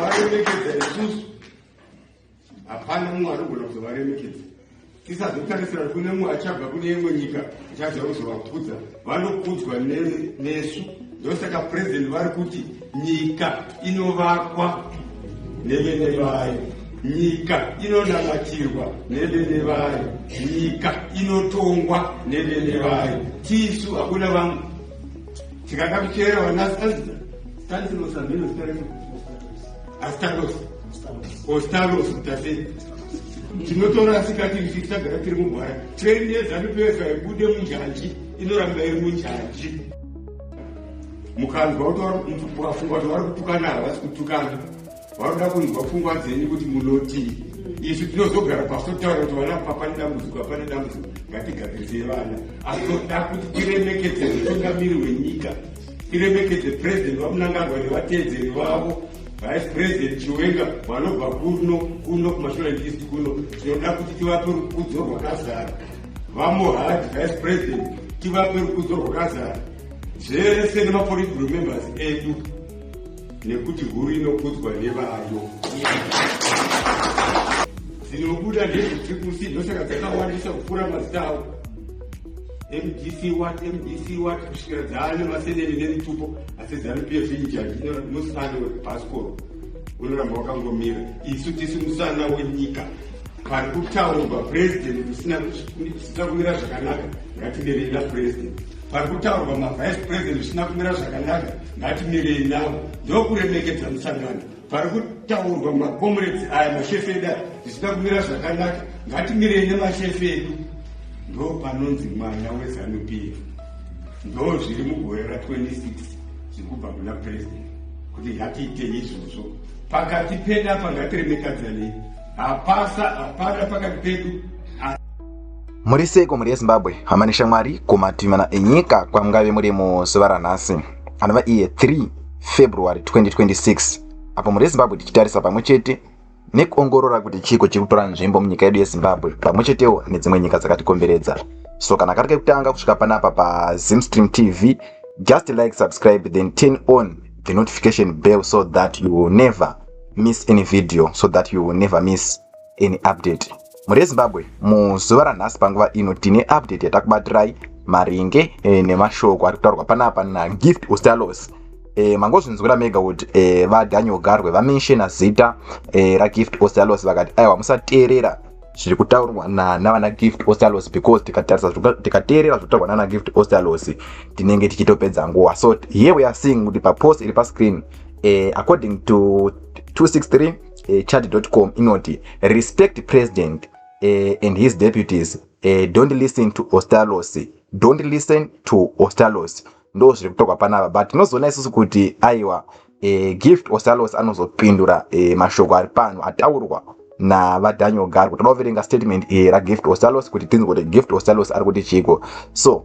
varemekedza isusu hapana mumwe anogona kuzovaremekedza tisazotarisira kuti kune mumwe achabva kune imwe nyika ichadza kuzovakudza vanokudzwa nesu ndosaka purezidenti vari kuti nyika inovakwa nevene vayo nyika inonamatirwa nevene vayo nyika inotongwa nevene vayo tisu hakuna vamwe tikada kuchera vanasazi Tantilosa ndiro zita racho astaros ostaros tase tinotora asikati isu tisagara tiri mugwara trendi yezanup yese haibude munjanji inoramba iri munjanji mukanzwa kuti wafunga kuti vari kutukana havasi kutukana Vanoda kunzwa pfungwa dzenyu kuti munotii. Isu tinozogara pasi totaura kuti vana papane dambudziko apane dambudziko ngatigadzirisei vana. Asi toda kuti tiremekedze mutungamiri wenyika. Tiremekedze president vamunangagwa nevatedzeri vavo. Vice President Chiwenga vanobva kuno kuno kumashura ndisi kuno tinoda kuti tivape rukudzo rwakazara vamohadi Vice President tivape rukudzo rwakazara zvese nemapolitical members edu nekuti huru inokudzwa nevayo dzinobuda ndezvitsikusi ndosaka dzakawandisa kupfuura mazita avo mdc wat mdc wat kusvikira dzaane maseneni nemitupo asi zanup f injani inosana wekubhasikoro unoramba wakangomira isu tisi musana wenyika pari kutaurwa purezidenti kusina kumira zvakanaka ngatimerei napurezidendi pari kutaurwa mavice president zvisina kumira zvakanaka ngatimirei navo ndokuremekedza musangano pari kutaurwa macomrades aya mashefe edu aya zvisina kumira zvakanaka ngatimirei nemashefe edu ndo panonzi mwana wezanup ndo zviri mugore ra 26 zviri kubva kuna president kuti ngatiite izvozvo pakati pedu apa ngatiremekadzanei hapasa hapana pakati pedu Muri seiko mhuri yeZimbabwe, hama neshamwari kumativana enyika kwamungave muri muzuva ranhasi anova iye 3 February 2026 apo mhuri yeZimbabwe tichitarisa pamwe chete nekuongorora kuti chiiko chiri kutora nzvimbo munyika yedu yeZimbabwe pamwe chetewo nedzimwe nyika dzakatikomberedza. So kana kari kekutanga kusvika panapa paZimstream TV, just like, subscribe then turn on the notification bell so that you will never miss any video so that you will never miss any update mhuri yezimbabwe muzuva ranhasi panguva ino tine update yatakubatirai maringe e, nemashoko ari kutaurwa panapa nagift ustalos e, mangozvinzwira mega kuti e, vadaniel garwe vamenshena zita e, ragift ustalos vakati aiwa musateerera zviri kutaurwa navana gift ostalos because tikatarisa tikateerera zvokutaurwa nana gift ostalos tinenge tichitopedza nguva so here we are seeing kuti papost iri pascreen eh, according to 263 uh, chad.com inoti respect president uh, and his deputies uh, don't listen to ostalos don't listen to ostalos ndo zviri kutokwa panapa but tinozoona isusu kuti aiwa uh, gift ostalos anozopindura uh, mashoko ari pano ataurwa navadaniel garwo toda kuverenga statement iyi ragift ostalos kuti tinzi kuti gift ostalos ari kuti chiiko so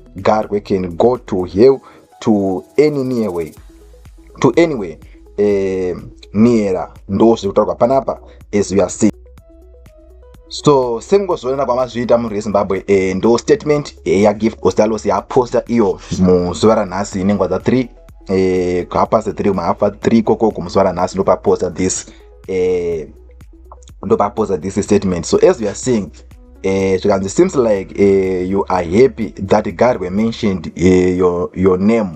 garwe can go to hell to any near way to anyway eh, neera ndo zviri kutaurwa panapa as we are see so semungozviona kwamazviita mhuri yezimbabwe eh, ndo statement eh, yagift ostalos yaposta iyo muzuva ranhasi inengwa dza 3 eh, hapase 3 mahapfa 3 kokoko muzuva ranhasi ndopaposta this eh, ndopapoza this statement so as youare saying eh, zvikanzi seems like eh, you are happy that god were mentioned eh, your, your name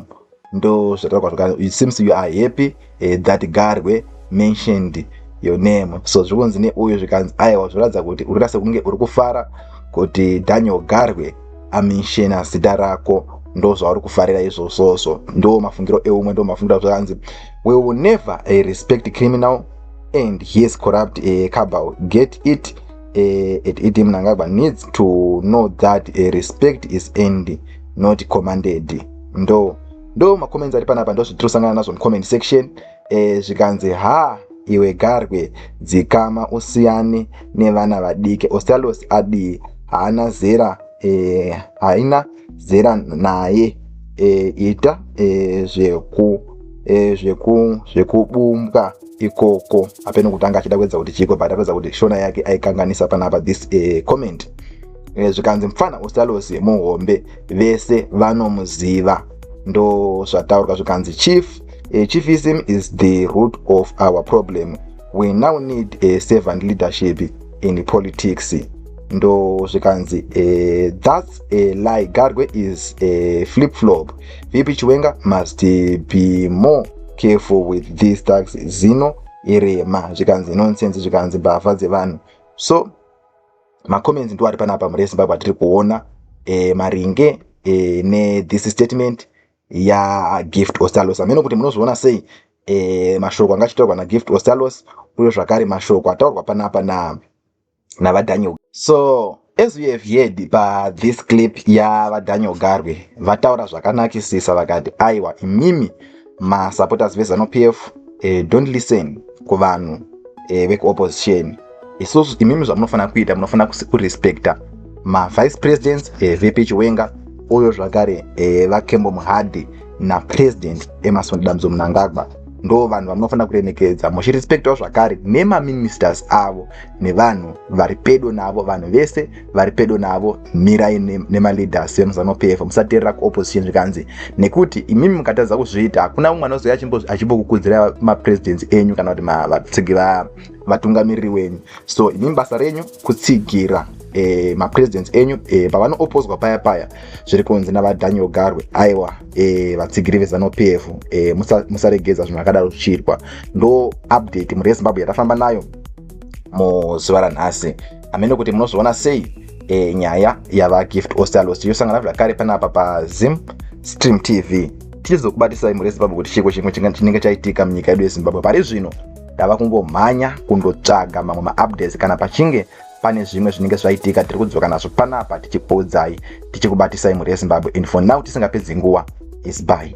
ndo zvataurwa zvaka it seems you are happy eh, that god were mentioned your name so zviri kunzi neuyo zvikanzi aiwa zvinoratidza kuti uri rase kunge uri kufara kuti daniel garwe amenshena zita rako ndo zvauri kufarira izvozvozvo ndo mafungiro eumwe ndo mafungiro zvakanzi we will never uh, respect criminal and yes corrupt uh, eh, cabal get it uh, eh, at it mnangagwa needs to know that uh, respect is end not commanded ndo ndo macomments ari panapa ndozvitirosangana nazvo mucomment section uh, zvikanzi ha iwe garwe dzikama usiyane nevana vadiki ostalos adii haana zera uh, haina zera naye e, ita e, zveku e, zveku zvekubumbwa ikoko apeno kutanga achida kuedza kuti chiko but apedza kuti shona yake aikanganisa panapa this e, comment e, zvikanzi mfana usalosi muhombe vese vanomuziva ndo zvataurwa zvikanzi chief e, chiefism is the root of our problem we now need a servant leadership in politics ndo zvikanzi e, thats a lie garwe is a flip flop vp chiwenga must be more careful with this tax zino irema zvikanzi nonsense zvikanzi mbavha dzevanhu so macomments ndo ari panapa mhuri yezimbabwe atiri kuona e, maringe e, ne this statement yagift ostalos hameno kuti munozviona sei e, mashoko anga achitaurwa nagift ostalos uyo zvakare mashoko ataurwa panapa na navadaniel so as we have heard pathis clip yavadaniel garwe vataura zvakanakisisa vakati aiwa imimi masupporters vezanupf e, eh, don't listen kuvanhu e, vekuopposition so imimi zvamunofanira kuita munofanira kurespecta mavice presidents evp eh, chiwenga uyo zvakare eh, vakembo muhadhi napresident emason damzo munangagwa ndo vanhu vamunofanira kuremekedza muchirespectawo zvakare nemaministers avo nevanhu vari pedo navo vanhu vese vari pedo navo mirai nemaleaders vemuzano pf musateerera kuopposition zvikanzi nekuti imimi mukatadza kuzviita hakuna umwe anozouya achimbokukudzira mapresidents enyu kana kuti vatsigi vatungamiriri wenyu so imimi basa renyu kutsigira e, mapresidents enyu e, pavanoopozwa paya paya zviri kunzi navadaniel garwe aiwa e, vatsigiri vezano p f e, musaregedza zvinhu akadaro zvichiitwa ndo update mhuri yezimbabwe yatafamba nayo muzuva ranhasi amene kuti munozviona sei e, nyaya yavagift ostalos tichosangana zvakare panapa pazim stream tv tichizokubatisai mhuri yezimbabwe kuti chiko chimwe chinenge chaitika munyika yedu yezimbabwe pari zvino ndava kungomhanya kundotsvaga mamwe maupdates kana pachinge pane zvimwe zvinenge zvaitika tiri kudzoka nazvo panapa tichikuudzai tichikubatisai mhuri yezimbabwe and for now tisingapedzi nguva is by